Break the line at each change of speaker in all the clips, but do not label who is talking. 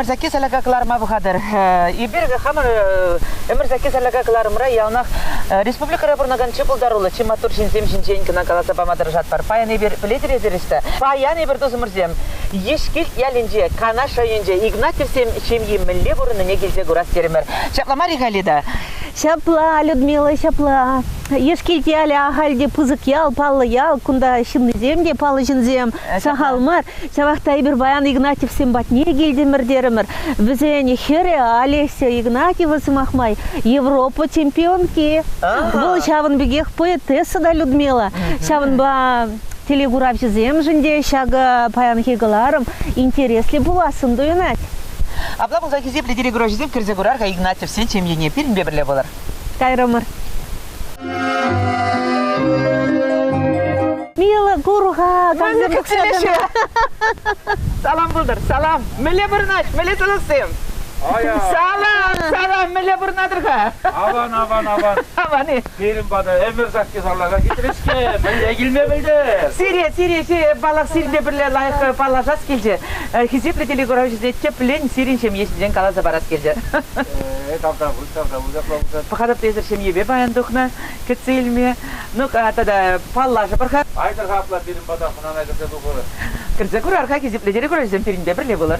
ӗмӗрсекки сәлака кӑларма пӑхатӑр. Эпир хамӑр ӗмӗрсекки сәлака кӑларӑмра яланах республикӑра пурӑнакан чи пултаруллӑ, чи маттур ҫынсем ҫинчен кӑна каласа пама тӑрӑшатпӑр. Паян эпир пӗлетӗр эсир ӑҫта. Паян эпир тусӑмӑрсем Ешкилт ялӗнче, Канаш районӗнче Игнатьевсем ҫемйи мӗнле пурӑннине килсе курас терӗмӗр. Ҫапла мар-и, Галида? Ҫапла,
Людмила, ҫапла. Ешкилт ялӗ ахаль те пысӑк ял, паллӑ ял. Кунта ҫыннисем те паллӑ ҫынсем. Сахал мар. Ҫавах та эпир паян Игнатьевсем патне килтӗмӗр терӗмӗр. Вӗсен хӗрӗ Олеся Игнатьева, сӑмах май, Европа чемпионки. Вӑл ҫавӑн пекех поэтесса та Людмила. Ҫавӑнпа телекуравҫӑсемшӗн те ҫакӑ паянхи кӑларӑм интересли пулассӑн туйӑнать. Апла пулсан
хисеплӗ телекуравҫӑсем кӗрсе курар-ха Игнатьев сен ҫемьене пирӗнпе пӗрле пулар. Кайрӑмӑр.
Мила курха, Манӑн кӗкселеші.
Салам пултыр, салам. Мӗнле пурӑнать, мӗнле сӑлӑхсем? Аян. Салам, салам, мӗнле пурӑнатӑр-ха? Аван, аван,
аван. Аван-и?
Пирӗн пата
ӗмӗр сакки сарлака китрӗ-ҫке, мӗнле килме пӗлтӗр? Сире, сире, сире
паллах сирӗнпе пӗрле лайӑх паллашас килчӗ. Хисеплӗ телекуравҫӑсене тӗплӗн сирӗн ҫемье ҫинчен каласа парас килчӗ. Э, тавта
пуль, тавта
пуль, ҫапла пулсан. Пӑхатӑп, эсир ҫемьепе паян тухнӑ, кӗтсе илме. Ну, тата паллашӑпӑр-ха. Айтӑр-ха апла пирӗн пата хӑнана
кӗрсе тухӑр. Кӗрсе курар-ха,
хисеплӗ телекуравҫӑсем, пирӗнпе пӗрле пулӑр.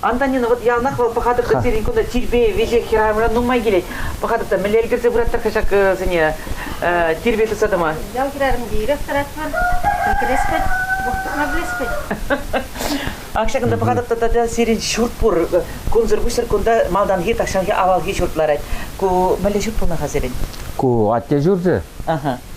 Антонина, вот
яланах вӑл пӑхатӑп та пирӗн кунта тирпей веҫех хӗрарӑмра нумай килет. Пӑхатӑп та мӗнле ӗлкӗрсе пыраттӑр-ха ҫак сене тирпей тытса тӑма? Ял хӗрарӑмне ирех
тӑратпӑр. Пӗлкелеспӗт, вӑх тытма пӗлеспӗт. Ак ҫакӑнта
пӑхатӑп та тата сирӗн ҫурт пур. Кунсӑр-пуҫсӑр кунта малтанхи, тахҫанхи, авалхи ҫурт ларать. Ку мӗнле ҫурт пулнӑ-ха сирӗн? Ку атте
ҫурчӗ.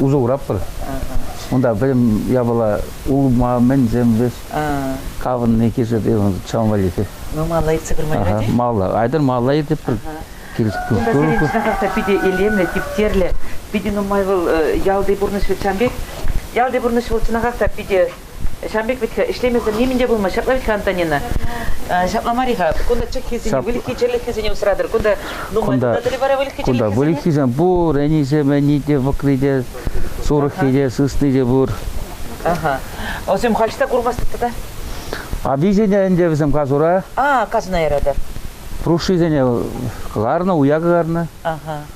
усӑ куратпӑр. Унта пӗтӗм япала улма, мӗнсем, вӗҫ, кавӑнни, кишӗр, чаван валли. Ну, малла иртсе курмалла
те? Малла, айтӑр малла
иртӗпӗр. Кунта
сирӗн питӗ илемлӗ, типтерлӗ, питӗ нумай вӑл ялти пурнӑҫ вӑл чан пек. Ялти пурнӑҫ вӑл чӑнахах та питӗ Ҫавӑн пек вӗт-ха, ӗҫлемесӗр нимӗн те пулман. Ҫапла вӗт-ха, Антонина? Ҫапла мар-и-ха? Кунта чӑххисене, выльӑххисене усратӑр. Кунта нумай тунатӑр вара выльӑххисене. Кунта выльӑххисем пур,
ӗнисене те, вӑкри те, сурӑхне те, сысни те пур.
Аха. Вӗсем халь та курмастӑп тата? Аписене
ӗнтӗ вӗсем касура. А, касуна яратӑр.
Прушисене
кӑларнӑ, уя кӑларнӑ. Аха.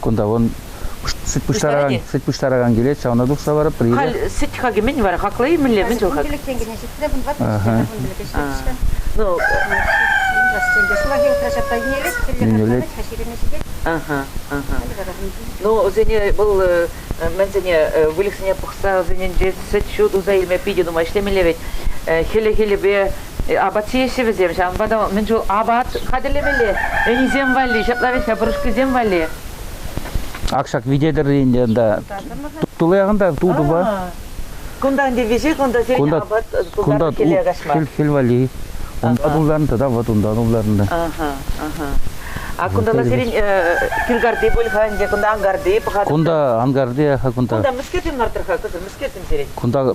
Кунта вон сӗт пуҫтаракан, сӗт пуҫтаракан килет, ҫавна тухса барӑпӑр. Халь сӗт хакӗ мӗн
вара? Хаклӑ-и мӗнле? Мӗн тул хак? Килӗк тенкӗне ҫитрӗ, вунтӑват тенкӗ Ну, Ниндзяс тенкӗ сулахи утрачатта йӳнелет, кӗлле хатламать-ха ҫирӗме ҫитет. Ага, ага. Ну, вӗсене вӑл мӗнсене, выльӑхсене пӑхса вӗсенчен сӗт-ҫу туса илме питӗ нумай ӗҫлемелле вӗт. Хӗлӗ-хӗлӗпе апат ҫиеҫҫӗ вӗсем, ҫавӑнпа та мӗн чул апат хатӗрлемелле, ӗнисем валли, ҫапла вӗт пӑрушкисем валли.
Ак ҫак вите тӗрри ӗнтӗ ӑнта. Тулаяган та тутӑпа. Кунта ӗнтӗ
виҫе, кунта сирӗн кунта, апат тултарнӑ хӗле каҫма. Хӗл, хӗл валли.
Унта тултарнӑ тата вот унтан тултарнӑ. Аха, аха. А
кунта сирӗн кӳркарти пуль-ха ӗнтӗ, кунта ангарти пӑхатӑр. Кунта ангарти, кунта. Кунта мӗскерсем
лартрӑр-ха, кӑсӑр мӗскерсем
сирӗн? Кунта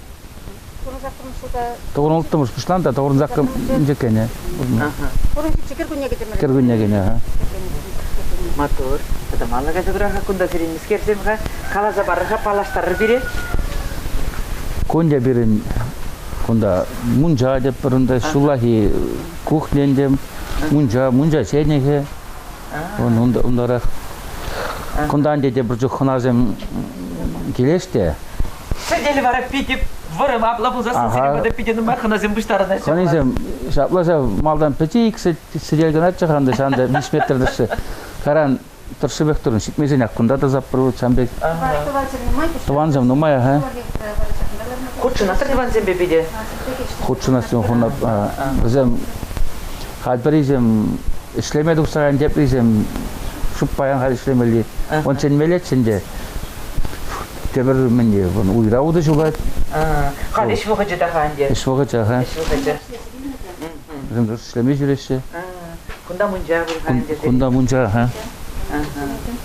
Тӑвӑнӑлттӑмӑш пуҫлан та тӑвӑрӑнсаккӑм инҫе кӗнӗ. Кӗркунне кӗтӗмӗр. Кӗркунне кӗнӗ. Матур.
Тата мана кайса кура-ха кунта сирӗн мискерсем-ха. Каласа парӑр-ха, паллаштарӑр пире.
Кун те пирӗн кунта мунча теппӗр унта ҫуллахи кухня ӗнтӗ. Мунча, мунча ҫенӗхӗ. Унтарах кунтан тетепӗр чух хӑнасем килӗҫ те. Сӗтел
вара питӗ вӑрӑм апла пулсан сӗтел питӗ нумай хӑнасем пуҫтарӑнаҫҫӗ. Хӑнисем
ҫапла ҫав малтан пӗчи ик сӗтел кӑначчӗ ханта ҫанта виҫ метр тӑршшӗ. Каран тӑршшӗпех турӑн ҫитмесенех кунта та саппӑр вӑл ҫам пек. Тӑвансем нумай-ха.
Хутшӑнаттӑр тӑвансемпе питӗ? Хутшӑнас
ҫум хунап. Вӗсем Хальпӗрисем ӗҫлеме тухсаран теприсем шуп паян халь ӗҫлемелли. Он чӗнмеллеччӗ ӗнтӗ. Тепӗр мӗнне, уйра утӑ ҫулать. Халь ӗҫ
вӑхӑчӗ та-ха ӗнтӗ. Ӗҫ вӑхӑчӗ, ха.
Ӗҫ вӑхӑчӗ. Вӗсем ӗҫлеме ҫӳреҫҫӗ. Кунта
мунча пур-ха ӗнтӗ. Кунта мунча, ха.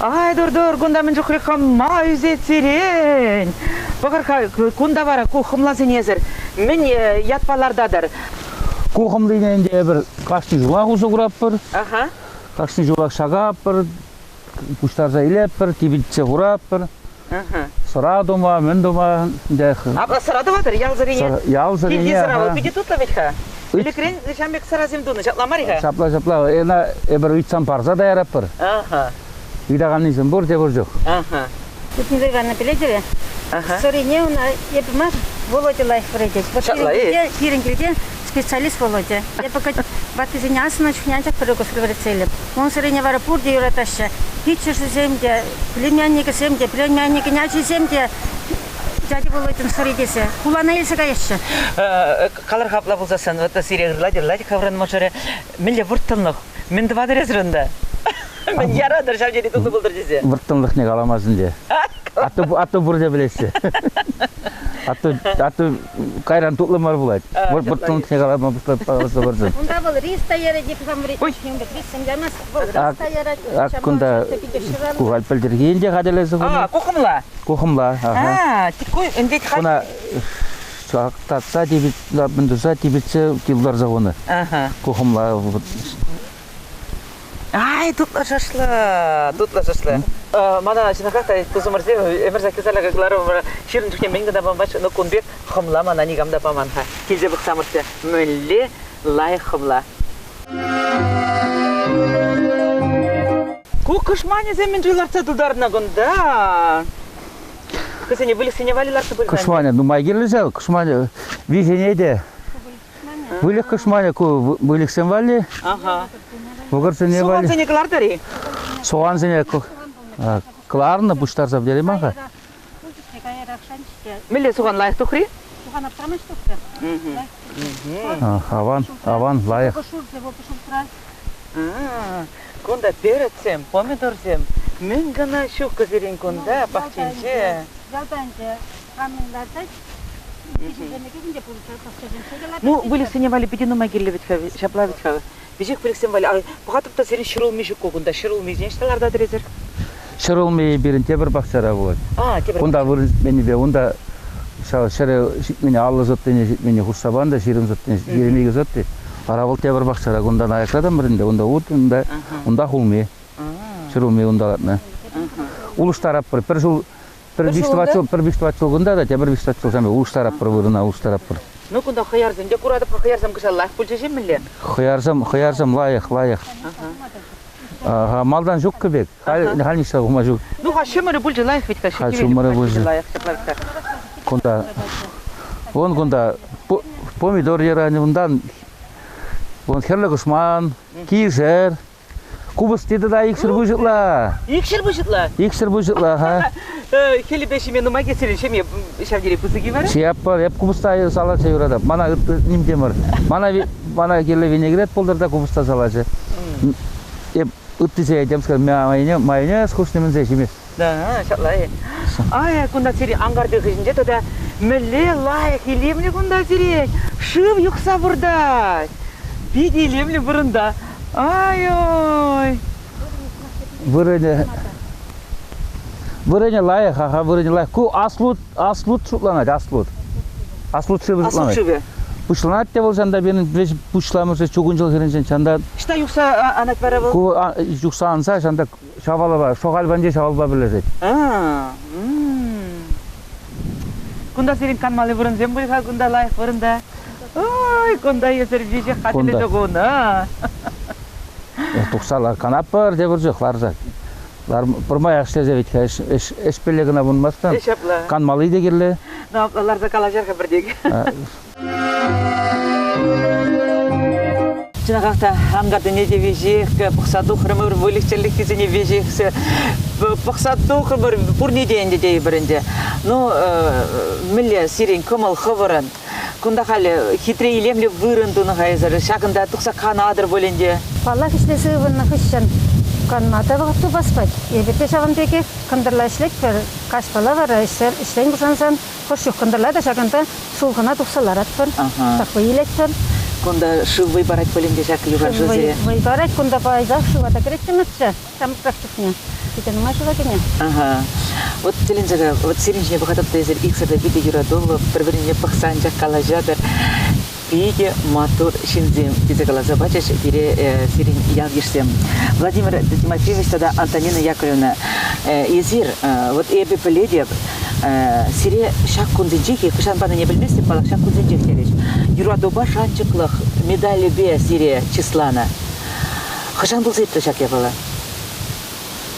Ай, тур-тур,
кунта мӗн чухлӗ хӑма ӳсет сирен. Пӑхӑр-ха, кунта вара ку хӑмласенесӗр мӗн ятпа лартатӑр? Ку
хӑмлине ӗнтӗ эпир кашни ҫулах усӑ куратпӑр. Ага.
Кашни ҫулах
ҫакатпӑр, пуҫтарса илетпӗр, типӗтсе хуратпӑр. Сӑра
тума,
мӗн тума ӗнтӗ. Апла сӑра
тӑватӑр ялсӑрине? Ялсӑрине. Килти сӑра
вӑл питӗ тутлӑ
вӗт-ха. Ӗлӗкрен ҫам пек сӑрасем тунӑ, ҫапла мар-и-ха? Ҫапла, ҫапла. Ӑна
эпир ыйтсан парса таyaратпӑр. Аха.
Ыйтаканнисем
пурте пур чух. Аха.
Тутинсем Ивановна
пӗлетӗр-и? Сӑрине
ӑна
эпӗ мар, Володя лайӑх вӗретет. Ҫапла-и? Пирӗн килте специалист Володя. Эпӗ ваттисене асӑннӑ чухне анчах пӗр укӑсра вӗретсе илӗп. Унсӑррине вара пурте юратаҫҫӗ. Пиччӗшӗсем те, племянникӗсем те, племянникӗн ачисем те дядя Володьӑн сӑри тесе хулана илсе каяҫҫӗ. Калӑр-ха
апла пулсассӑн, вот сире ырлать, ырлать хӑвран мӑшӑрӗ. Мӗнле вӑрттӑнлӑх? Мӗн тӑватӑр унта? Мӗн яратӑр ҫав тери тутли пултӑр тесе? Вӑрттӑнлӑхне каламас
ӗнтӗ. Атту пурте пӗлесчӗ. Атту кайран тутлӑ мар пулать. Вӑл пӑттӑнлӑхне калама пуҫласа Унта вӑл риста ярать, риссем
ямас, вӑл риста ярать. Ак кунта
кухаль пӗлтӗрхи те хатӗрлесе хунӑ. А, кухымла? Кухымла,
ага. А,
тикуй, ӗнтет
Куна
чактатса, типӗтсе типӗтсе ларса хунӑ. Кухымла
Ай, тутлӑ шашлы, тутлӑ шашлы. Мана ҫынахах та тусӑмӑрсем ӗмӗр сакки сарлака кӑларӑмӑр. Ҫирӗн чухне мӗн кӑна памач, ну кун пек хӑмла мана никам та паман-ха. Килсе пӑхсамӑрччӗ, мӗнле лайӑх хӑмла. Ку кӑшманӗсем мӗншӗн лартса тутарнӑ кунта? Хӑсене выльӑхсене валли лартса пырсан. Кӑшманӗ нумай кирлӗ ҫав,
кӑшманӗ виҫене те. Выльӑх кӑшманӗ ку выльӑхсем валли. Ага.
Вӑкӑрсене
валли. Сугансене кӑлартӑр-и?
Сугансене
кӑларнӑ пуҫтарса пӗтереймӗн-ха.
Мӗнле суган лайӑх тухрӗ? Суган аптрамасть
тухрӗ. Аван,
аван, лайӑх.
Кунта перецсем, помидорсем мӗн кӑна ҫук кӑсирен кунта пахчинче. Ялта ӗнтӗ
камӑн лартать?
Ну, выльӑхсене валли питӗ нумай килнӗ вӗт-ха, ҫапла вӗт-ха. Веҫех выльӑхсем валли. Пӑхатӑп та сирӗн ҫӗрулми ҫук ку кунта. Ҫӗрулмисене ҫӑта ларта тӗресӗр. Ҫӗрулми
пирӗн тепӗр пахчара пулать. А, тепӗр. Унта вырӑнӗпе унта ҫав ҫӗре ҫитмене аллӑ сӑттине ҫитмене хушса пан та ҫирӗм сӑттине ҫитмен икӗ сӑтти. Ара вӑл тепӗр пахчара. Кунтан аякратӑмӑр ӗнтӗ. Унта ут, унта унта хулми. Ҫӗрулми унта лартнӑ. Улӑштаратпӑр. Пӗр ҫул Пӗр виҫ тӑват ҫул, пӗр виҫ тӑват ҫул кунта та тепӗр виҫ тӑват ҫулсем улӑштаратпӑр вырӑна улӑштаратпӑр. Ну кунта хӑярсем
те куратӑп-ха, хӑярсем кӑҫал лайӑх пулчӗ-ши мӗнле? Хӑярсем, хӑярсем
лайӑх, лайӑх. Ага. Малтан ҫуккӑ пек, халь, халь ниҫта тухма ҫук. Ну ха ҫумӑрӗ пулчӗ
лайӑх ведь-ха, ха ҫумӑрӗ пулчӗ лайӑх
ҫаплах та. Кунта, вон кунта помидор йӑранӗ унтан, вон хӗрлӗ кушман, кишер, Купӑсти тата икҫӗр пуҫӑтла. Икҫӗр пуҫӑтла?
Икҫӗр пуҫӑтла-ха.
Хӗлӗпе
ҫиме нумай кӗтсен ҫеме ҫав тери пысӑк-и вара? Чияппа эп купӑста
салатса юратап. Мана ним те мар. Мана мана кирлӗ винегрет пултӑр та купӑста салачӗ. Эп ытти сея темскер майонез хушни мӗнсе ҫимест. Да,
ҫапла-и? Ай, кунта сире анкартир хыҫӗнче тата мӗнле лайӑх илемлӗ кунта сире! Шыв юхса выртать! Питӗ илемлӗ вырӑнта. Ай-ой! Вырӑнӗ
вырӑнӗ лайӑх, аха вырӑнӗ лайӑх. Ку аслут, аслут шутланать, аслут. Аслут шывӗ аслут шутланать. шывӗ. Пуҫланать
те вӑл
ҫанта пирӗн пуҫламӑшӗ чукунҫӑл хирӗнчен ҫанта Ӑҫта юхса
анать вара вӑл? ку а- юхса
анса ҫанта Ҫавалпа, Шӑхаль панчи ҫавалпа пӗрлешет.
Кунта сирӗн канмалли вырӑнсем пуль-ха кунта лайӑх вырӑнта. Ой, кунта эсир веҫех хатӗрлесе хунӑ. Тухсала
канатпӑр тепӗр чух ларса. Пӗрмаях ӗҫлесе вӗт-ха ӗҫпелле кӑна пулмасть-ха. Ҫапла. Канмалли те кирлӗ. Ну, ларса
калаҫар-ха пӗртен. Чӑнахах та ангартине те веҫех пӑхса тухрӑмӑр, выльӑх-чӗрлӗхкисене веҫех пӑхса тухрӑмӑр, пурне те ӗнтӗ тейӗпӗр ӗнтӗ. Ну, мӗнле сирӗн кӑмӑл хӑвӑрӑн? Кунта халӗ хитре илемлӗ вырӑн тунӑ хайсӑр, ҫакӑнта тухса канатӑр пулин те. Паллах, ӗҫлесе
ывӑннӑ хыҫҫӑн канма та вӑхӑт тупас пек. Эпир те ҫавӑн пекех кӑнтӑрла ӗҫлетпӗр, каҫпала вара ӗҫсем ӗҫрен пушансан Хӑш чух кӑнтӑрла та ҫакӑнта сулхӑна тухса ларатпӑр, такой илетпӗр. Кунта шыв
вӑй парать пулин те ҫак юханшыв сире? Вӑй парать, кунта
пайтах шыва та кӗреттӗмӗрччӗ, ҫамрӑкрах чухне. Питӗ нумай шыва кӗнӗ. Вот
тӗлӗнсе, вот сирӗн ҫине пӑхатӑп та эсир иксӗр те питӗ юратуллӑ, пӗр-пӗрине пӑхса анчах калаҫатӑр. питӗ маттур ҫынсем, тесе каласа пачӗҫ пире сирӗн ял-йышсем. Владимир Тимофеевич тата Антонина Яковлевна, эсир, вот эпӗ пӗлетӗп, сире ҫак кунсенчех, хӑҫан панине пӗлместӗп, паллах, ҫак кунсенчех терӗҫ. Юратупа шанчӑклӑх медалӗпе сире чысланӑ. Хӑҫан пулса иртрӗ ҫак япала?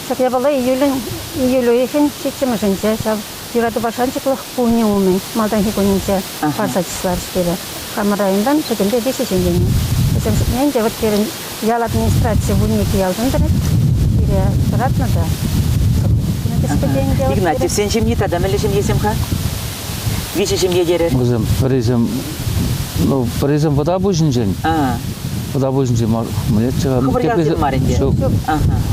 Ҫак япала июлӗн июль уйӑхӗн ҫиччӗмӗшӗнче ҫав. Юратупа шанчӑклӑх пулни умӗн малтанхи кунӗнче парса чысларӗҫ пире. Хамӑр районтан пӗтӗмпе виҫӗ ҫын килнӗ. Вӗсем шутне ӗнтӗ вот пирӗн ял администраци вунникӗ ялтан тӑрать. Пире тӑратнӑ та. Игнатьевсен
ҫемйи тата мӗнле ҫемьесем-ха? Виҫӗ ҫемье терӗр. Вӗсем пӗрисем
Ну, пӗрисем Пӑтапуҫӗнчен. Пӑтапуҫӗнчен мӗнле Хӑвӑрьялсем мар
ӗнтӗ. Ҫук.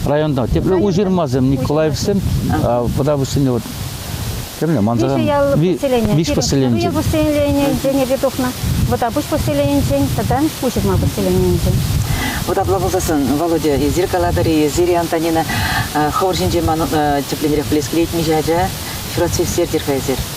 Районта
тепле Уҫырмасем, Николаевсем, Пӑтапуҫсене вот Кемне, Мансаран. Виҫӗ ял поселения. Виҫ поселении. Ил поселенийӗнчен
эпир тухнӑ. Вӑтапуҫ поселенийӗнчен тата Уҫырма поселенийӗнчен. Вот апла
пулсассӑн, Володя, эсир калатӑр-и, эсир, Антонина, хӑвӑр ҫинче ман тӗпленрех блесклетмӗҫ ача, ҫуратсессертӗр-ха эсир.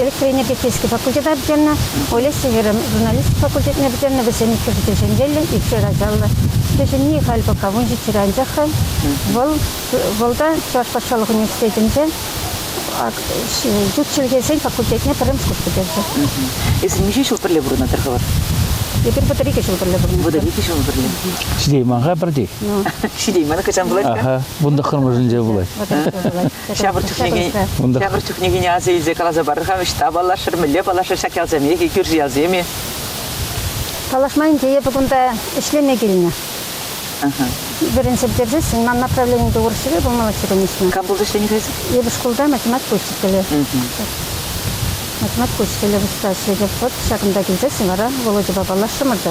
электроэнергетика физика факультета пӗтернӗ, Олеся Хӗрӗм журналистика факультетне пӗтернӗ, вӗсем иккӗшӗ те ҫӗнчеллӗ, икшер ачаллӑ. Кӗҫӗнни халь пока вун ҫиччӗре анчах-ха. Вӑл вӑлта Чӑваш патшалӑх университетӗнче ют чӗлхесен факультетне пӗрремӗш курс пӗтерчӗ. Эсӗ миҫе ҫул
пӗрле пурӑнатӑр-ха вӑл? Эпир вӑтӑр икӗ
ҫул пӗрле пурӑнатпӑр. Вӑтӑр икӗ ҫул пӗрле.
Ҫитеймӗн-ха
пӗртей. Ну. Ҫитеймӗн,
хӑҫан пулать-ха? Вун тӑххӑрмӗшӗнче пулать. Вун тӑххӑрмӗшӗнче
пулать. Ҫавӑр
чухнене, ҫавӑр чухнене аса илсе каласа парар-ха, ӑҫта паллашӑр, мӗнле паллашӑр ҫак ялсемех-и, кӳрши ялсем-и?
Паллашма ӗнтӗ эпӗ кунта ӗҫлеме килнӗ. Пирӗн ҫӗртерсессӗн ман направленинче урӑхҫӗре пулмалӑхҫӗрен уҫнӑ. Кам пулса ӗҫленӗ-ха эсӗ?
Эпӗ шкулта математика
учителӗ. Математика учителӗ пуҫлас. Эпӗ вот ҫакӑнта килсессӗн вара Володьӑпа паллашрӑмӑр та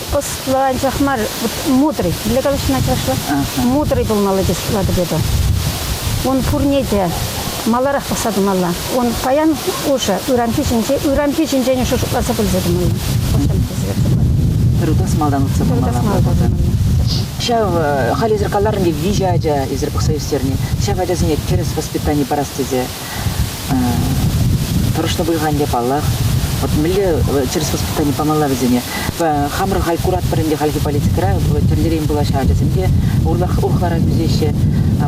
ӑслӑ анчах мар, мудрый. Для калаҫына чашлы. Мудрый пулмалла тес латыпеду. Ун пурне те маларах пӑхса тӑмалла. Ун паян ушы ыранхи ҫинче, ыранхи ҫинчен ушу шутласа пӗлсе тӑмалла. Тӑрутас
малтан утса пымалла. Ҫав халь эсир каларӑн те виҫӗ ача эсир пӑхса ӳстерни. Ҫав ачасене тӗрӗс воспитани парас тесе тӑрӑшнӑ пуль-ха ӗнтӗ паллах. Вот мӗнле чирс воспитани памалла вӗсене. Хамӑр халь куратпӑр ӗнтӗ хальхи политикӑра тӗрлӗрен пулаҫҫӗ ачасем те урлах урӑхларах ӳсеҫҫӗ.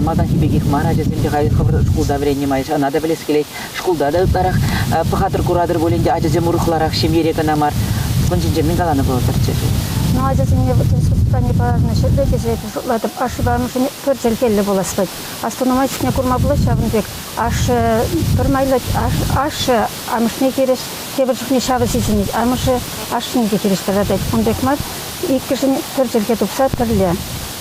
Малтанхи пекех мар ачасем те халь хӑвӑр шкулта вӗреннӗ май ӑна та пӗлес килет. Шкулта та ытларах пӑхатӑр куратӑр пулин те ачасем урӑхларах ҫемьере кӑна мар. Ун ҫинчен мӗн каланӑ пултӑрччӗ ши? Ну ачасене
тӗрӗс воспитани парӑнӑҫӗпе тесе шутлатӑп. Ашшӗпе амӑшӗн пӗр чӗлхеллӗ пулас вӗт. Астунама ҫитне курма пулать ҫавӑн пек. Ашшӗ пӗр майлӑ ашшӗ амӑшне хирӗҫ, тепӗр чухне ҫавӑ сисӗнет. Амӑшӗ ашшӗне те хирӗҫ тӑратать. Кун пек мар. Иккӗшӗн пӗр чӗлхе тупса пӗрле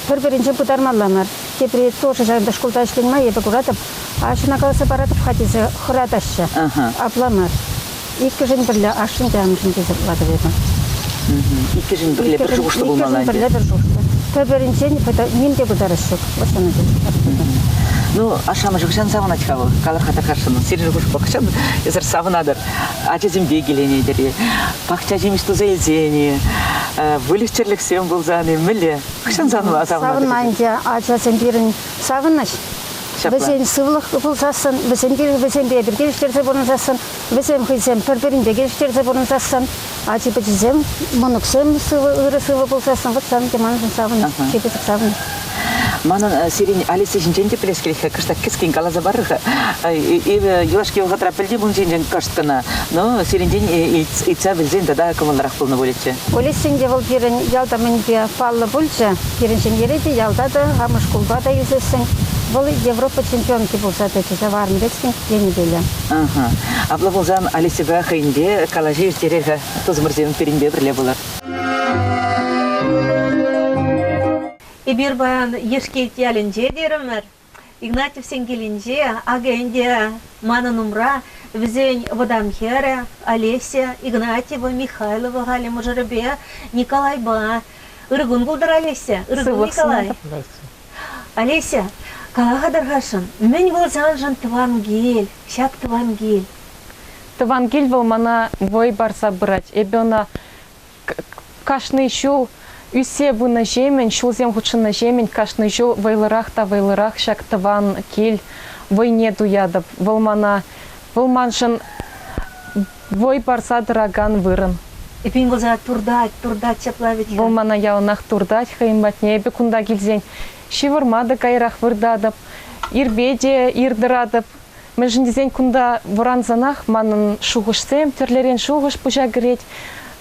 пӗр-пӗринчен пытармалла мар. Тепри тоже ҫакӑнта шкулта ӗҫлен май эпӗ куратӑп, аҫӑна каласа паратӑп-ха тесе хӑратаҫҫӗ. Апла мар. Иккӗшин пӗрле ашшӗн те амӑшӗн те сыхлатӑп эпӗ. Иккӗшин
пӗрле пӗр шухӑшлӑ пулма ӑна
пӗрле пӗр шухӑшлӑ. Пӗр-пӗринчен ним те пытарас ҫук. Вот ҫавна тӗлӗш. Ну,
ашшӗ-амӑшӗ ӑҫан савӑнать-ха вӑл? Кала-ха тӑкасшӑн. Сирӗн шухӑшпа ӑҫан эсӗр савӑнатӑр? Ачасемпе киленетӗр-и? Пахча ҫимӗҫ туса илсен-и? Выльӑх-чӗрлӗхсем пулсан-и? Мӗнле? Ӑҫан савӑнма савӑнатӑр? Савӑнма ӗнтӗ. Ачасем
пирӗн савӑнӑҫ. Вӗсен сывлӑх пулсассӑн, вӗсемпе эпир те ӳстерсе пурӑнсассӑн Вӗсем хӑйсем пӗр-пӗринпе килӗштерсе пурӑнсассӑн ачи-пӑчисем, мӑнуксем сывӑ, ырӑ-сывӑ пулсассӑн вӑт сан те маншӑн савӑнӑр, чи пысӑк савӑнӑр. Манӑн
сирӗн Алиса ҫинчен те пӗлес килет-ха, кӑштах кӗскен каласа парӑр-ха. Эпӗ юлашки вӑхӑтра пӗлти пулнӑ ҫинчен кӑшт кӑна, но сирӗнтен ыйтса пӗлсен тата кӑмӑллӑрах пулнӑ пулӗччӗ. Олесен те вӑл пирӗн
ялта мӗнпе паллӑ пулчӗ. Пирӗн ҫемьере те ялта та, амӑш шкулпа та ӳсессӗн вӑл Европа чемпионки пулса тӑчӗ, ҫаварнӑ пек-сӗн. тенӗ пулӗ.
Апла пулсан Алисӑпа хӑйӗнпе калаҫу ирттерер-ха. Тусӑмӑрсем пирӗнпе пӗрле пулар.
Эпир паян Ешкелт ялӗнче терӗмӗр. Игнатьевсен килӗнче, акӑ ӗнтӗ манӑн умра вӗсен вӑтам хӗрӗ Олеся Игнатьева, Михайлова халӗ мӑшӑрӗпе Николайпа. Ыркун пултӑр, Олеся. Ыркун, Николай. Олеся, кала-ха тархасшӑн, мӗн вӑл саншӑн тӑван кил, ҫак тӑван кил? Тӑван
кил вӑл мана вӑй парса пырать. Эпӗ ӑна кашни ҫул ӳссе пынӑҫемӗн, ҫулсем хутшӑннӑҫемӗн кашни ҫул вӑйлӑрах та вӑйлӑрах ҫак тӑван кил вӑйне туятӑп. Вӑл мана, вӑл маншӑн Вӑй парса тӑракан вырӑн. Эппин вӑл сана
туртать, туртать, ҫапла вӗт-ха. Вӑл мана яланах
туртать хӑйӗн патне. Эпӗ кунта килсен ҫывӑрма та каярах выртатӑп, ирпе те ир тӑратӑп. Мӗншӗн тесен кунта вӑрансанах манӑн шухӑшсем, тӗрлӗрен шухӑш пуҫа кӗрет.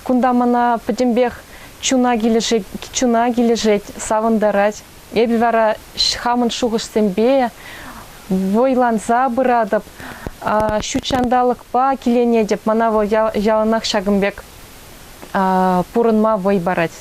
Кунта мана пӗтӗмпех чуна килӗшет, чуна килӗшет, савӑнтарать. Эпӗ вара хамӑн шухӑшсемпе вӑйланса пыратӑп, ҫут ҫанталӑкпа киленетӗп. Мана вӑл яланах ҫакӑн пек пурӑнма вӑй парать.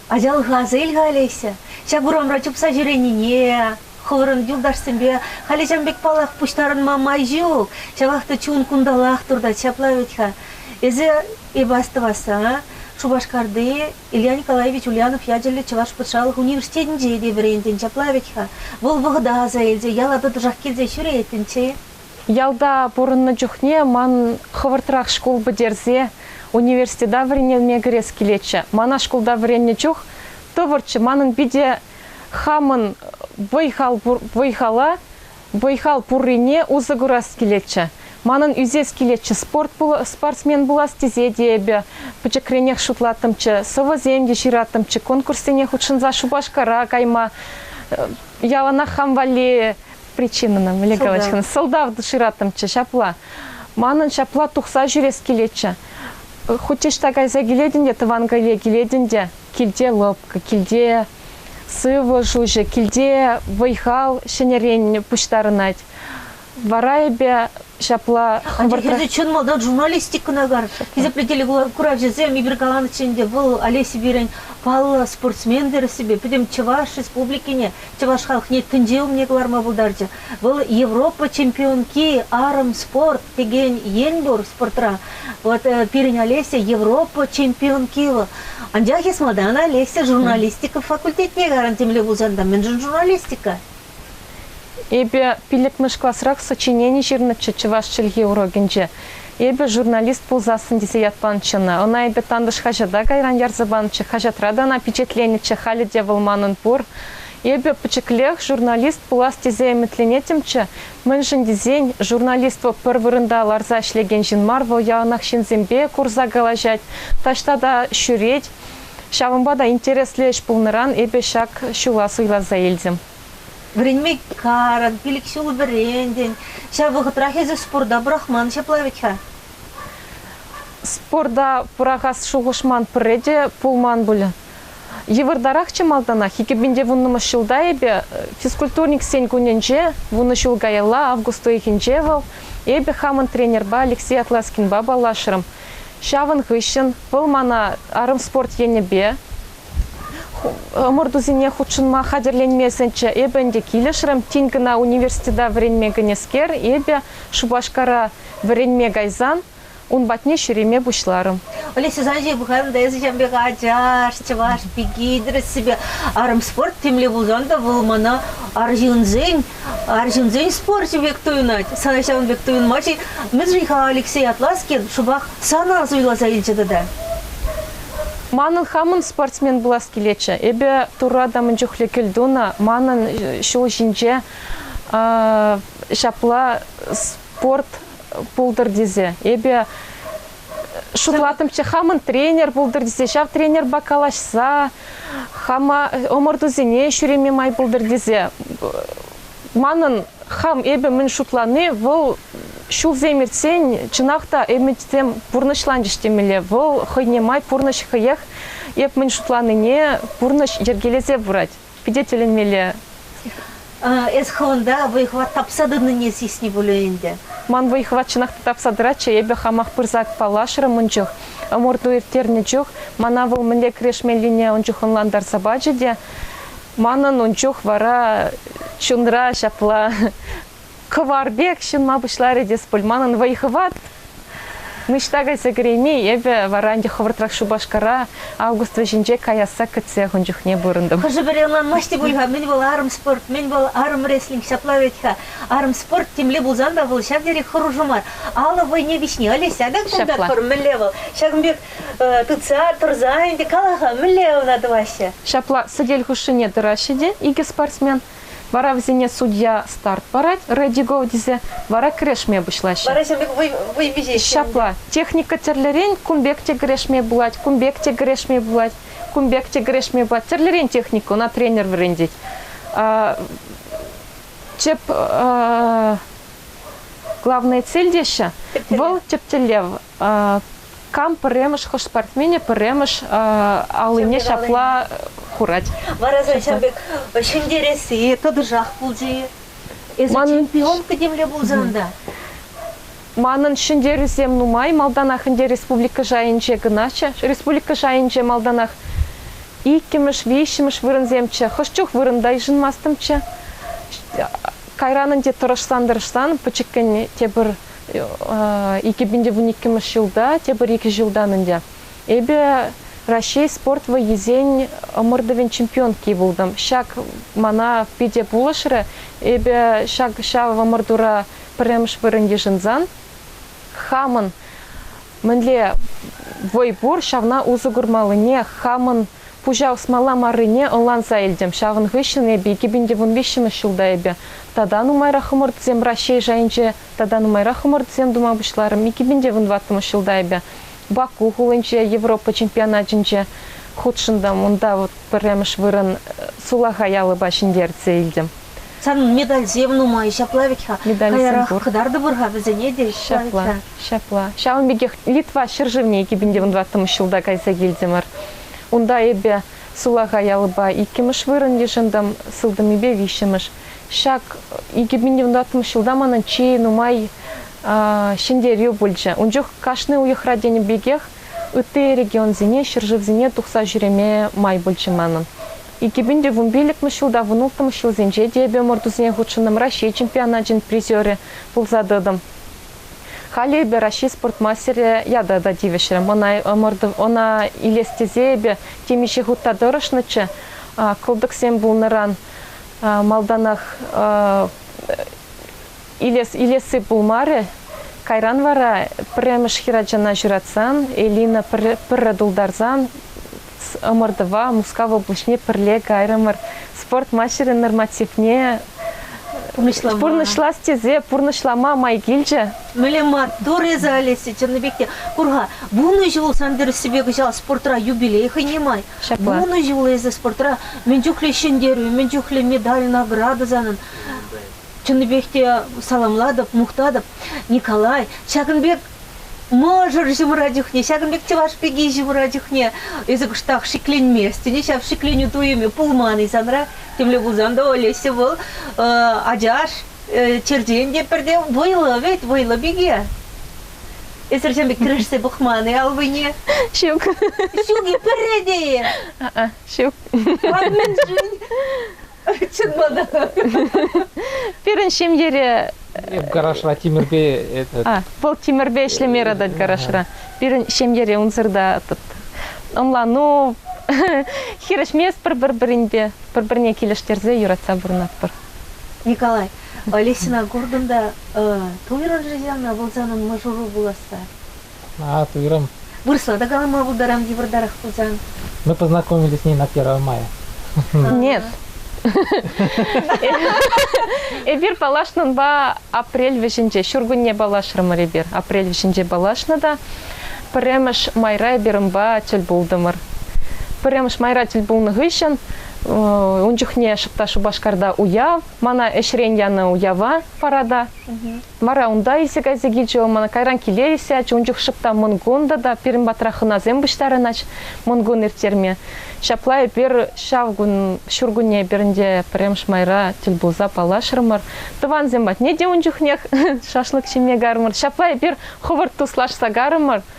Ачалӑх асил ха, Олеся. Ҫак урамра чупса ҫӳренине, хӑвӑрӑн юлташсемпе халӗ ҫан пек паллах пуҫтарӑнма май ҫук. Ҫавах та чун кунталах туртать. Ҫапла вӗт-ха. Эсӗ эпӗ астӑвасса Шупашкарти Илья Николаевич Ульянов ячӗллӗ Чӑваш патшалӑх университетӗнче те вӗрентӗн, ҫапла вӗт-ха. Вӑл вӑхӑта аса илсе яла тӑтӑшах килсе ҫӳретӗнччӗ. Ялта
пурӑннӑ чухне ман хӑвӑртрах шкул пӗтерсе университета вӗренелме кӗрес килетчӗ. Мана шкулта вӗреннӗ чух тӑвӑрччӗ. Манӑн питӗ хамӑн вӑй-хала Вӑй-хал пуррине усӑ курас килетчӗ. Манӑн ӳсес килетчӗ спорт спортсмен пулас тесе те эпӗ пӗчӗкренех шутлаттӑмччӗ, сӑвӑсем те ҫыраттӑмччӗ, конкурссене хутшӑнса Шупашкара кайма яланах хам валли причинӑна мӗнле калаҫкӑн сӑлтав шыраттӑмччӗ ҫапла. Манӑн ҫапла тухса ҫӳрес килетчӗ. Хуть ӑҫта кайса килетӗн те тӑван киле килетӗн те килте лӑпкӑ, килте Сывлӑш уҫӑ, килте вӑй-хал ҫӗнӗрен пуҫтарӑнать. Вара эпӗ ҫапла хӑвӑртрах... Тесе чӑн
малтан журналистикӑна кар. Хисеплӗ телекуравҫӑсем, Игорь Галановичӑн те вӑл Олеся пирӗн паллӑ спортсмен тӗрӗссипе пӗтӗм Чӑваш Республикине, Чӑваш халӑхне тӗнче умне кӑларма пултарчӗ. Вӑл Европа чемпионки арӑм спорт текен ен пур спортра. Вот э, пирӗн Олеся Европа чемпионки вӑл. Анчах эс малтан Олеся журналистика факультетне гарантимле пулсан та мӗншӗн журналистика?
Эпӗ пиллӗкмӗш класрах сочинени ҫырнӑччӗ чӑваш чӗлхи урокӗнче. Эпӗ журналист пулсассӑн тесе ятланчӗ ӑна. Ӑна эпӗ тантӑш хаҫата кайран ярса панӑччӗ, хаҫатра та ӑна пичетленӗччӗ, халӗ те вӑл манӑн пур. Эпӗ пӗчӗклех журналист пулас тесе ӗмӗтленетӗмччӗ, мӗншӗн тесен журналист вӑл пӗр вырӑнта ларса ӗҫлекен ҫын мар, вӑл яланах ҫынсемпе курса калаҫать, таҫта та ҫӳрет. Ҫавӑнпа та интереслӗ ӗҫ пулнӑран эпӗ ҫак ҫула суйласа илтӗм. Вӗренме
карӑн, пилӗк ҫул вӗрентӗн. Ҫав вӑхӑтрах эсӗ спорта пӑрахман ҫапла вӗт-ха?
Спорта пӑрахас шухӑш ман пӗрре те пулман пуль. Йывӑртарахчӗ малтанах. Икӗпинте вуннӑмӗш ҫулта эпӗ, физкультурниксен кунӗнче, вунӑ ҫул каялла, август уйӑхӗнче вӑл, эпӗ хамӑн тренерпа Алексей Атласкинпа паллашрӑм. Ҫавӑн хыҫҫӑн вӑл мана арӑм спорт енӗпе ӑмӑртусене хутшӑнма хатӗрленме сӗнчӗ. Эпӗ ӗнтӗ килӗшрӗм. Тин кӑна университета вӗренме кӗнӗскер, эпӗ Шупашкара вӗренме кайсан, Ун патне ҫӳреме пуҫларӑм. Олеся Санчик,
пӑхарӑм та эсӗ ҫан пек ачаш, чӑваш пики, тӗрӗссипе арӑм спорт темле пулсан та вӑл мана арҫынсен, арҫынсен спорчӗ пек туйӑнать. Сана ҫавӑн пек туйӑнмасть-и? Мӗншӗн-ха Алексей Атласкин шӑпах сана суйласа илчӗ тата?
Манӑн хамӑн спортсмен пулас килетчӗ. Эпӗ Турра та мӗн чухлӗ кӗлтунӑ. Манӑн ҫул ҫинче ҫапла спорт пултӑр тесе, эпӗ шутлатӑмччӗ, хамӑн тренер пултӑр тесе, ҫав тренерпа калаҫса хама ӑмӑртусене ҫӳреме май пултӑр тесе. Манӑн хам эпӗ мӗн шутлани вӑл ҫулсем иртсен чӑнах та ӗмӗтсем пурнӑҫланчӗҫ темелле. Вӑл хӑйне май пурнӑҫ хӑех эп мӗн шутланине пурнӑҫ йӗркелесе пырать. Питӗ тӗлӗнмелле. Эсховонда
вӑй-хӑват тапса тӑнине сисни пулӗ ӗнтӗ. Ман вӑй-хӑват
чӑнах та тапса тӑратчӗ, эпӗ хамах пырса паллашрӑм ун чух. Ӑмӑрту ирттернӗ чух мана вӑл мӗнле кӗрешмеллине ун чух ӑнлантарса пачӗ те. Манӑн ун чух вара чунра ҫапла Кӑвар пек ҫунма пуҫларӗ те Спульманӑн вӑй-хӑват ниҫта кайса кӗрейми, эпӗ вара ӗнтӗ хӑвӑртрах Шупашкара август вӗҫӗнче каясса кӗтсех ун чухне пурӑнтӑм. Хӑшӗ-пӗри ӑнланмасть те
пуль-ха, мӗн вӑл арӑм спорт, мӗн вӑл арӑм рестлинг, ҫапла вӗт-ха. Арӑм спорт темле пулсан та вӑл ҫав тери хӑрушӑ мар. Алӑ вӑйне виҫни Олеся та култартпӑр, мӗнле вӑл? Ҫакӑн пек тытса, тӑрса ӗнтӗ кала-ха, мӗнле ӑна тӑваҫҫӗ? Ҫапла сӗтел
хушшине тӑраҫҫӗ те икӗ спортсмен. Вара вӗсене судья старт парать, ready go тесе, вара кӗрешме пуҫлаҫҫӗ. Вара ҫӗрле вӑй, вӑй
виҫеҫҫӗ. Ҫапла. Техника
тӗрлӗрен кун пек те кӗрешме пулать, кун пек те кӗрешме пулать, кун пек те кӗрешме пулать. Тӗрлӗрен техника, ӑна тренер вӗрентет. Тӗп главная цель теҫҫӗ, вӑл тӗп тӗллев Кам пӗрремӗш хӑш спортсменӗ пӗрремӗш аллине ҫапла хурать. Вара ҫав пек
ҫӗнтересси тӑтӑшах пулчӗ-и? Эсӗ чемпионка темле пулсан та.
Манӑн ҫӗнтерӳсем нумай малтанах ӗнтӗ республика шайӗнче кӑначчӗ. Республика шайӗнче малтанах иккӗмӗш, виҫҫӗмӗш вырӑнсемччӗ. Хӑш чух вырӑнта йышӑнмастӑмччӗ. Кайран ӗнтӗ тӑрӑшсан-тӑрӑшсан пӗчӗккӗн те пӗр Икӗ пин те вун иккӗмӗш ҫулта, тепӗр икӗ ҫултан ӗнтӗ эпӗ Раҫҫей спорт вӑййисен ӑмӑртӑвӗн чемпионки пултӑм. Ҫак мана питӗ пулӑшрӗ. Эпӗ ҫак ҫав ӑмӑртура пӗрремӗш вырӑн йышӑнсан хамӑн мӗнле вӑй пур, ҫавна усӑ курмаллине хамӑн Пуҫа усмалла маррине ӑнланса илтӗм. Ҫавӑн хыҫҫӑн эпӗ икӗ пин те вун виҫҫӗмӗш ҫулта эпӗ тата нумайрах ӑмӑртусем Раҫҫей шайӗнче тата нумайрах ӑмӑртусем тума пуҫларӑм. Икӗ пин те вун тӑваттӑмӗш ҫулта эпӗ Баку хулинче Европа чемпионатӗнче хутшӑнтӑм. Унта вӑл пӗрремӗш вырӑн сулахай алӑпа ҫӗнтерсе илтӗм. Сан медальсем
нумай, ҫапла вӗт-ха. Медальсем каярах пур.
кӑтартӑпӑр-ха вӗсене
те. Ҫапла. Ҫапла.
Ҫавӑн пекех Литва ҫӗршывне кӗпӗнтен тӑваттӑмӗш ҫулта кайса килтӗмӗр. Унта эпӗ сулахай алӑпа иккӗмӗш вырӑн йышӑнтӑм, сылтӑмӗпе виҫҫӗмӗш. Ҫак икӗпӗнтӑваттӑмӗш ҫулта манӑн чи нумай ҫӗнтерӳ пулчӗ. Ун чух кашни уйӑхра тенӗ пекех ытти регионсене, ҫӗршывсене тухса ҫӳреме май пулчӗ манӑн. Икӗпӗнтӑвун пиллӗкмӗш ҫулта вунулттӑмӗш ҫулсенче те эпӗ ӑмӑртусене хутшӑнтӑм, Раҫҫей чемпионачӗн призерӗ пулса тӑтӑм. Халӗ эпӗ Раҫҫей спорт мастерӗ ята та тивӗҫрӗм. Ӑна, ӑмӑртӑв, ӑна илес тесе эпӗ темиҫе хутта тӑрӑшнӑччӗ. Кӑлтӑксем пулнӑран малтанах илес, илесси пулмарӗ. Кайран вара пӗрремӗш хӗрачана ҫуратсан, Элина пӗрре тултарсан ӑмӑртӑва Мускав облаҫне пӗрле кайрӑмӑр. Спорт маҫӗрӗн нормативне пурнӑҫлама. пурнӑҫлас тесе пурнӑҫлама май килчӗ. Мӗнле маттур
эсӗ, Олеся, чӑннӑ пек те. Кур-ха, вунӑ ҫул сан тӗрӗссипе кӑҫал спортра юбилей хӑйне май. Ҫапла. Вунӑ ҫул эсӗ спортра мӗн чухлӗ ҫӗнтерӳ, мӗн чухлӗ медаль, награда санӑн. Чӑннипех те саламлатӑп, мухтатӑп. Николай, ҫакӑн пек Мӑшӑр ҫывӑра чухне, ҫакӑн пек чӑваш пики ҫывӑра чухне эсӗ кӑштах шикленместӗн-и, ҫав шикленӳ туйӑмӗ пулман-и санра. Темле пулсан та Олеся вӑл э, ачаш, э, черчен те пӗрте вӑйлӑ вӗт, вӑйлӑ пике. Эсӗр ҫын пек кӗрешсе пӑхман-и аллине? Ҫук.
Ҫук-и
пӗрре те-и?
Ҫук. А
мӗншӗн? Чӑн мана.
Пирӗн ҫемьере Эп гаражра
тимӗрпе этот а, вӑл
тимӗрпе ӗҫлеме яратать гаражра. Пирӗн ҫемьере унсӑрта ӑнлану хирӗҫместпӗр пӗр-пӗринпе, пӗр-пӗрне килӗштерсе юратса пурӑнатпӑр. Николай,
Олесьӑна куртӑм та туйрӑн-ши ҫавна пулсан мӑшӑру пуласса? А, туйрӑм.
Вырӑсла та
калама пултарам йывӑртарах пулсан. Мы познакомились
с ней на 1 мая. Нет.
Эпир паллашнӑнпа апрель вӗҫӗнче, ҫуркунне паллашрӑмӑр эпир. Апрель вӗҫӗнче паллашнӑ та пӗрремӗш майра эпир унпа тӗл пултӑмӑр. Пӗрремӗш майра тӗл пулнӑ хыҫҫӑн ун чухне та Шупашкарта уяв, мана ӗҫрен янӑ уява парада. Вара унта илсе-кайса килчӗ вӑл мана. Кайран киле илсе ячӗ. Ун чух шӑп та мӑнкун та, та пирӗн патра хӑнасем пуҫтарӑнать мӑнкун ирттерме. Ҫапла эпир ҫав кун, ҫуркунне эпир ӗнтӗ пӗрремӗш майра тӗл пулса паллашрӑмӑр. Тӑвансем патне те ун чухнех шашлык ҫиме карӑмӑр. Ҫапла эпир хӑвӑрт туслашса карӑмӑр.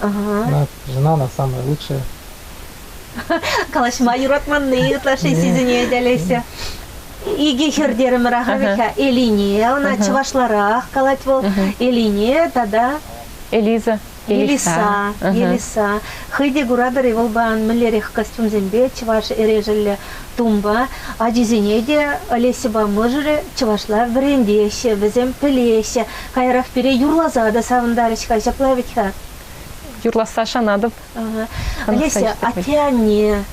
Ӑна жена она
самая лучшая. Калаҫма
юратманни ытлашши сисӗнет Олеся. Икӗ хӗр терӗмӗр ахӑрхи. Элине, она чӑвашларах калать вӑл. Элине тата Элиза.
Елиса.
Елиса. Хӑй те куратӑр-и, вӑл пан мӗнлерех костюмсемпе чӑваш эрешӗллӗ Тумпа ачисене те Олесьӑпа мӑшӑрӗ чӑвашла вӗрентеҫҫӗ, вӗсем пӗлеҫҫӗ. Каярах пире юрласа та савӑнтарӗҫ-ха, ҫапла вӗт-ха? Юрласса
шанатӑп. Олеся,
атте-анне,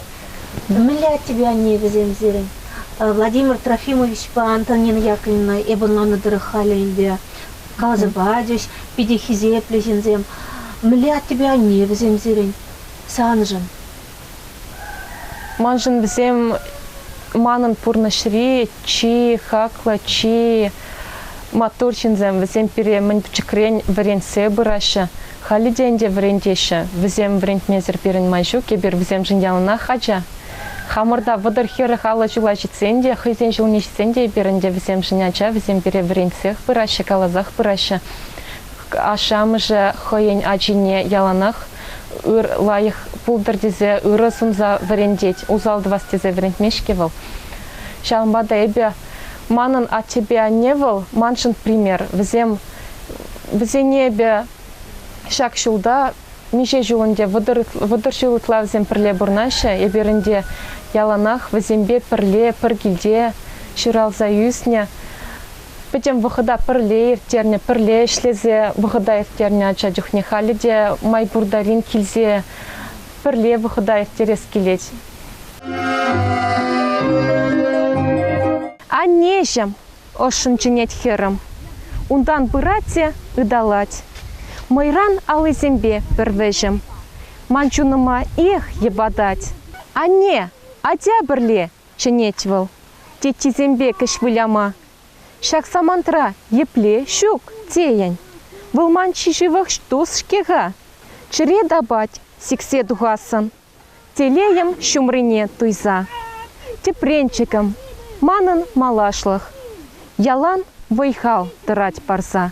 мӗнле аттепе анне вӗсем сирӗн? Владимир Трофимовичпа Антонина Яковлевна эп ӑнланнӑ тӑрӑх халӗ ӗнтӗ каласа пачӗҫ, питӗ хисеплӗ ҫынсем. Мӗнле аттепе анне вӗсем сирӗн? Саншӑн.
Маншӑн вӗсем манӑн пурнӑҫри чи хаклӑ, чи маттур ҫынсем. Вӗсем пире мӗн пӗчӗкрен вӗрентсе пыраҫҫӗ. Халӗ те ӗнтӗ вӗрентеҫҫӗ. Вӗсем вӗрентмесӗр пирӗн май ҫук. Эпир вӗсемшӗн яланах ача. Хамӑрта вӑтӑр хӗрӗх аллӑ чула ҫитсен те, хӑйсен ҫулне ҫитсен те эпир ӗнтӗ вӗсемшӗн ача. Вӗсем пире вӗрентсех пыраҫҫӗ, каласах пыраҫҫӗ. Ашшӗ-амӑшӗ хӑйӗн ачине яланах ыр лайӑх пултӑр тесе ырӑ сунса вӗрентет, усал тӑвас тесе вӗрентмест-ҫке вӑл. Ҫавӑнпа та эпӗ манӑн аттепе анне вӑл маншӑн пример. Вӗсем вӗсене эпӗ ҫак ҫулта миҫе ҫул ӗнтӗ вӑтӑр ҫул ытла вӗсем пӗрле пурӑнаҫҫӗ. Эпир ӗнтӗ яланах вӗсемпе пӗрле пӗр килте ҫуралса ӳснӗ. Пӗтӗм вӑхӑта пӗрле ирттернӗ, пӗрле ӗҫлесе вӑхӑта ирттернӗ ача чухне халӗ те май пур тарин килсе пӗрле вӑхӑта ирттерес килет. Аннеҫӗм, ӑшшӑн чӗнет хӗрӗм. Унтан пырать те ыталать. Мӑйран аллисемпе пӗр вӗҫӗм. Ман чунӑма эх йӑпатать. Анне, атя пӗрле Чӗнет вӑл теттисемпе кӗҫ выляма. Ҫак самантра епле ҫук тейӗн вӑл ман чи ҫывӑх тус-ҫке-ха? Чӗре тапать сиксе тухассӑн телейӗм ҫумрине туйса. Тӗпренчӗкӗм, манӑн малашлӑх ялан
вӑй-хал
тӑрать парса.